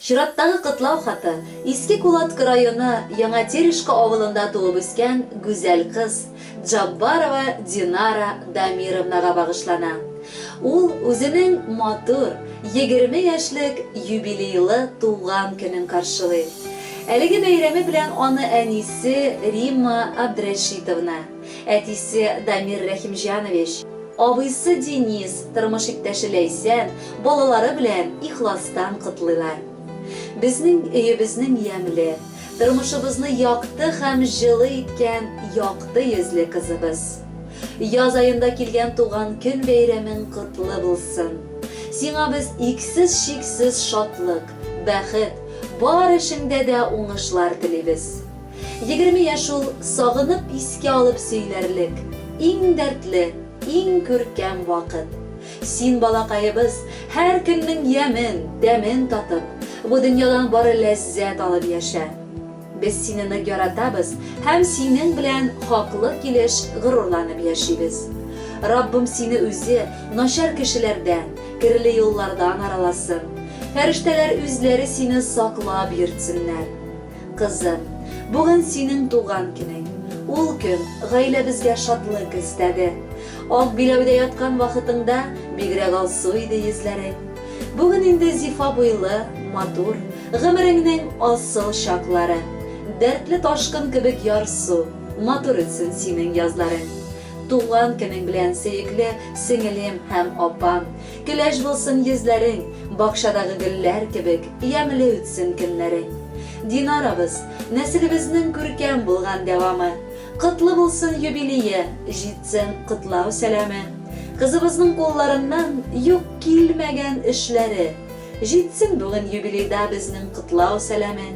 Чираттагы котлау хаты Иске Кулаткы районы Яңа Терешка авылында туып үскән гүзәл кыз Джаббарова Динара Дамировнага багышлана. Ул үзенең матур, егерме яшьлек юбилейлы туган көнен каршылый. Әлеге бәйрәме белән аны әнисе Римма Абдрәшитовна, Әтисе Дамир Рәхимҗанович, абыйсы Денис, тормыш иптәше Ләйсән, балалары белән ихластан котлыйлар. Безнең өебезнең ямьле, тормышыбызны якты һәм җылы иткән якты йөзле кызыбыз. Яз аенда килгән туган көн бәйрәмең котлы булсын. Сиңа без иксез-чиксез шатлык, бәхет, бар эшеңдә дә уңышлар телибез. Егерме яшь ул, сагынып искә алып сөйләрлек, иң дәртле, иң күркәм вакыт. Син, балакаебыз, һәр көннең ямен, тәмен татып, бу дөньядан бары ләззәт алып яшә. Без сине нык яратабыз һәм синең белән хаклы килеш горурланып яшибез. Раббым сине үзе начар кешеләрдән, керле юллардан араласын. Фәрештәләр үзләре сине саклап йөртсеннәр. Кызым, бүген синең туган көнең. Ул көн гаиләбезгә шатлык өстәде. Ак биләүдә яткан вакытыңда бигрәк алсу иде йөзләрең. Бүген инде зифа буйлы, матур, гомереңнең асыл чаклары. Дәртле ташкын кебек ярсу, матур үтсен синең язларың. Туган көнең белән, сөекле сеңелем һәм апам! Көләч булсын йөзләрең, бакчадагы гөлләр кебек ямьле үтсен көннәрең. Динарабыз, нәселебезнең күркәм булган дәвамы. Котлы булсын юбилие, җитсен котлау сәламе. Кызыбызның кулларыннан юк килмәгән эшләре. Җитсен бүген юбилейда безнең котлау сәламе.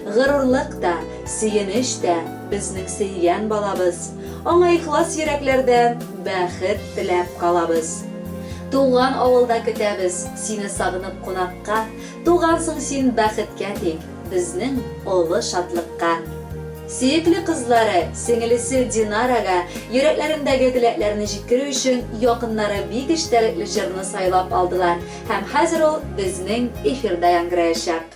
Горурлык та, сөенеч тә, безнең сөйгән балабыз, аңа ихлас йөрәкләрдән бәхет теләп калабыз. Туган авылда көтәбез сине сагынып кунакка, тугансың син бәхеткә тик, безнең олы шатлыкка. Сөекле кызлары, сеңелесе Динарага йөрәкләрендәге теләкләрне җиткерү өчен якыннары бик эчтәлекле җырны сайлап алдылар һәм хәзер ул безнең эфирда яңгыраячак.